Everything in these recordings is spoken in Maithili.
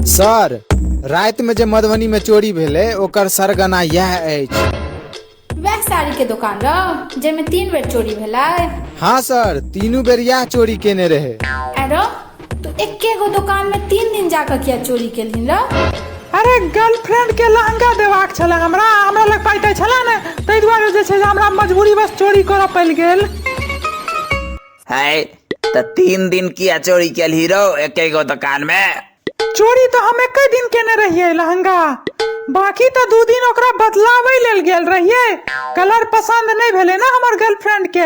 सर रातिमे जे मधुबनीमे चोरी भेलै ओकर सरगना इएह अछि वएह साड़ी के दुकान रहो जेमे तीन बेर चोरी भेलै हाँ सर तीनू बेर इएह चोरी केने रहै आरो तू एके गो दुकान में तीन दिन जाकर किया चोरी के लिए रह अरे गर्लफ्रेंड के लहंगा देबाक छले हमरा हमरा लग पाइ तऽ छले ने ताहि दुआरे जे छै जे हमरा मजबूरी बस चोरी करऽ पड़ि गेल है तऽ तीन दिन किया चोरी केलही रौ एके गो दुकान में चोरी तऽ हम एके दिन केने रहियै लहंगा बाकी तऽ दू दिन ओकरा बदलाबै लेल गेल रहियै कलर पसंद नहि भेलै ने हमर गर्लफ्रेंड के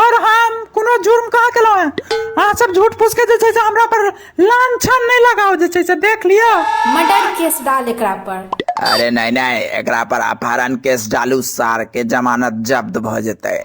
और हम कोनो जुर्म कहाँ केलहुँ हैं अहाँ सब झूठ फूस के जे छै से हमरा पर लांछन नहीं लगाओ जे छै से देख लिया मर्डर केस डाल एकरा पर अरे नहीं नहीं एकरा पर अपहरण केस डालू सार के जमानत जब्त भ जेते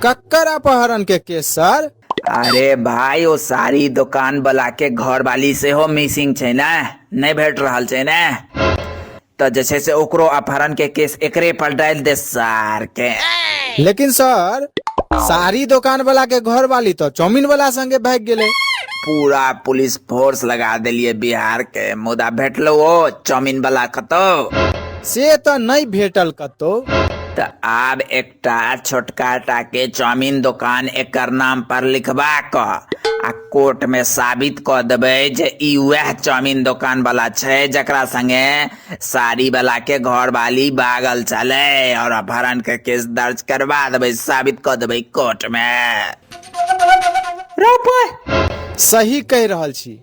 कक्कर अपहरण के केस सर अरे भाई ओ सारी दुकान वाला के घर वाली से हो मिसिंग छै ना नहीं भेट रहल छै ना तऽ जे छै से ओकरो अपहरण के केस एकरे पर डालि दे सार के लेकिन सर साड़ी दुकान वाला के घर वाली तो चाउमीन वाला संगे भाग गेले पूरा पुलिस फोर्स लगा देलिए बिहार के मुदा भेटलो ओ चाउमीन वाला कतौ से तो नहीं भेटल कतो तऽ आब एक एकटा छोटका टाके चाउमिन दोकान एकर नाम पर लिखबा क आ कोर्ट में साबित क देबै जे ई वएह चाउमिन दोकान वाला छै जकरा संगे साड़ी वाला के घर वाली बागल चले और अपहरण के केस दर्ज करवा देबै साबित क देबै कोर्ट में रौ पै सही कहि रहल छी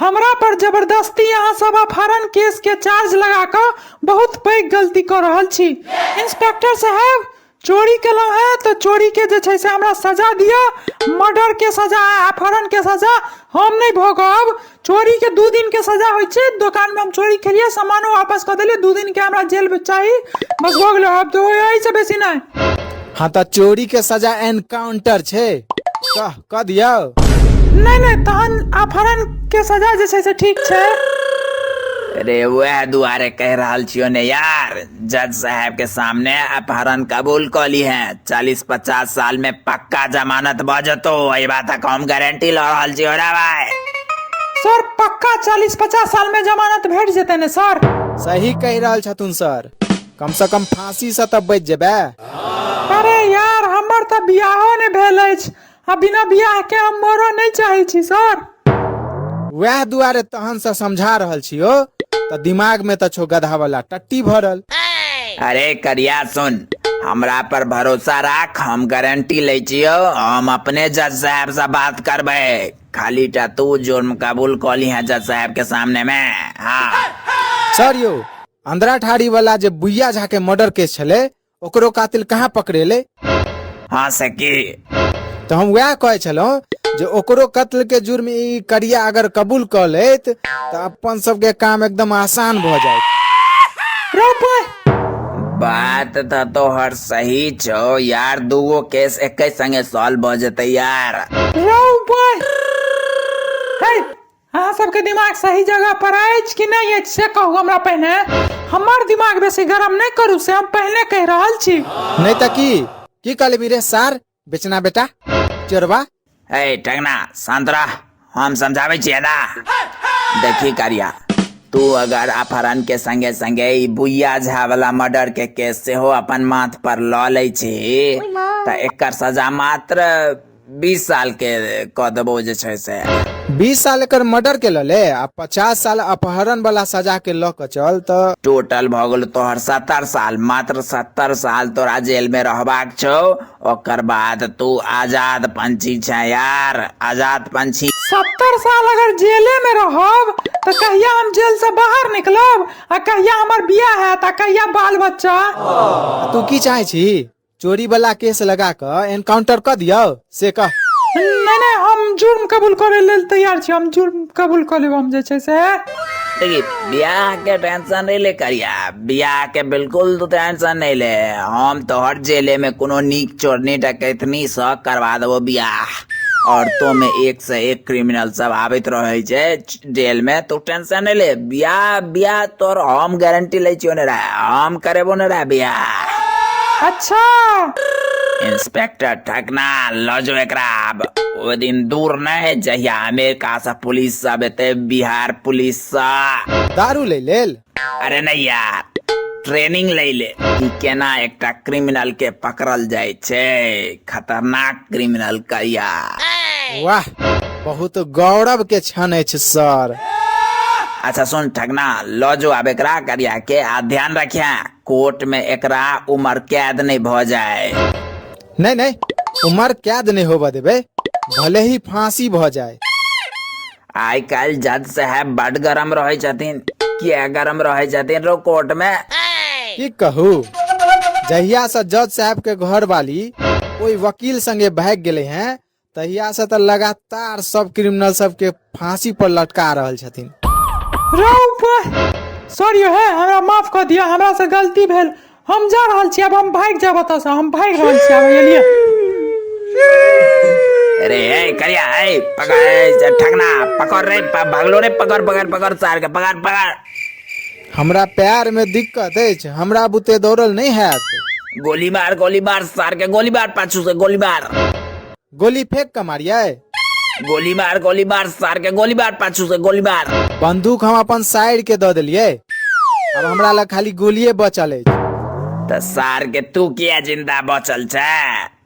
हमरा पर जबरदस्ती अहाँ सब अपहरण केस के चार्ज लगा कऽ बहुत पैघ गलती कऽ रहल छी इंस्पेक्टर साहब चोरी केलहुँ है तऽ चोरी के जे छै से हमरा सजा दिअ मर्डर के सजा अपहरण के सजा हम नहि भोगब चोरी के दू दिन के सजा होइ छै दोकान में हम चोरी केलिए सामानो वापस कऽ देलिए दू दिन के हमरा जेल में चाही बस भऽ गेलो आब तो एहि से बेसी नहि हाँ तऽ चोरी के सजा एनकाउंटर छै कह कऽ दियौ नहि नहि तहन अपहरण के सजा जे छै से ठीक छै अरे वह दुआरे कह रहल छियो ने यार जज साहब के सामने अपहरण कबूल कऽ ली है चालीस पचास साल में पक्का जमानत भऽ जेतो एहि बातक हम गारंटी लऽ रहल छियो रे भाय सर पक्का चालीस पचास साल में जमानत भेट जेतै ने सर सही कहि रहल छथुन सर कम सँ कम फाँसी सँ तऽ बचि जेबै। अरे यार हमर तऽ बियाहो नहि भेल अछि आ बिना बियाह के हम मरऽ नहि चाहै छी सर। वएह दुआरे तहन सँ समझा रहल छियौ तऽ दिमाग मे तऽ छौ गधा वाला टट्टी भरल। अरे करिया सुन हमरा पर भरोसा राख हम गारंटी लै छियौ हम अपने जज साहब सँ बात करबै खाली टा तू जुर्म कबूल कऽ लिहे जज साहब के सामने मे हँ। सर यौ अंदरा ठाड़ी वाला जे बुइया झा के मर्डर केस छले ओकरो कातिल कहाँ पकड़ेले हाँ सखी तो हम वह कहे छलहुँ जे ओकरो कत्ल के जुर्म ई करिया अगर कबूल कर लेत तो अपन सबके काम एकदम आसान भ जाए बात तो तोहर सही छो यार दूगो केस एक संगे सॉल्व हो जते यार अहाँ सबके दिमाग सही जगह पर अछि कि नहि अछि से कहू हमरा पहिने हमर दिमाग बेसी गरम नहि करू से हम पहिने कहि रहल छी नहीं तो की की कह लेबी रे सार बेचना बेटा चोरबा हे टंगना शांत रह हम समझाबै छियै ना देखी कारिया तू अगर अपहरण के संगे संगे ई बुइया झा वाला मर्डर के केस सेहो अपन माथ पर लऽ लै छी तऽ एकर सजा मात्र बीस साल के कह देबो जे छै से बीस साल एकर मर्डर के लले आ पचास साल अपहरण वाला सजा के लऽ के चल त टोटल भऽ गेल तोहर सत्तर साल मात्र सत्तर साल तोरा जेल में रहबाक छौ ओकर बाद तू आजाद पंछी छै यार आजाद पंछी सत्तर साल अगर जेले में रहब तऽ कहिया हम जेल से बाहर निकलब आ कहिया हमर बियाह हैत आ कहिया बाल बच्चा तू की चाहे छी चोरी वाला केस लगा कऽ एनकाउंटर कऽ दियौ से कह नहि नहि हम जुर्म कबूल करै लेल तैयार छी हम जुर्म कबूल कऽ लेब हम जे छै से देखी बियाह के टेंशन नहीं ले करिया बियाह के बिल्कुल तू टेंशन नहीं ले हम तोहर जेले में कोनो नीक चोरनी डकैतनी सँ करवा देबो बियाह और तो में एक से एक क्रिमिनल सब आबैत रहे छै च- जेल में तू टेंशन नहीं ले बियाह बियाह तोर हम गारंटी ले छियो ने रे हम करेबो ने रे बियाह अच्छा इंस्पेक्टर ठकना लो जो एकरा अब वो दिन दूर न है जहिया अमेरिका से पुलिस सब एते बिहार पुलिस सा दारू ले लेल अरे नहीं यार ट्रेनिंग ले ले कि केना एकटा क्रिमिनल के पकड़ल जाय छै खतरनाक क्रिमिनल का यार वाह बहुत गौरव के क्षण अछि सर अच्छा सुन ठगना लो जो अब एकरा करिया के आ ध्यान रखिया कोर्ट में एकरा उम्र कैद नहीं भ जाए नहि नहि उमर कैद नहि होबऽ देबै भले ही फांसी भऽ जाए आइ काल्हि जज साहब बड गरम रहै छथिन किया गरम रहै छथिन रो कोर्ट मे की कहू जहिया से जज साहब के घर वाली ओहि वकील संगे भाग गेले हैं तहिया से तऽ लगातार सब क्रिमिनल सबके फांसी पर लटका रहल छथिन रे ऊपर सॉरी हे हमरा माफ कऽ दिअ हमरा से गलती भेल हम जा रहल छी आब हम भागि जायब एतऽसँ हम भागि रहल छी आब एलियै अरे ए करिया ए पकड़ ए, ठगना पकड़ रे प- भगलो रे पकड़ पकड़ पकड़ सार के पकड़ पकड़ हमरा पैर में दिक्कत अछि हमरा बुते दौड़ल नहि हैत गोली मार गोली मार सार के गोली मार पाछू से गोली मार गोली फेंक के मारिये गोली मार गोली मार सार के गोली मार पाछू से गोली मार बंदूक हम अपन साइड के दऽ देलियै अब हमरा लग खाली गोलिये बचल अछि तऽ सार के तू किया जिंदा बचल छै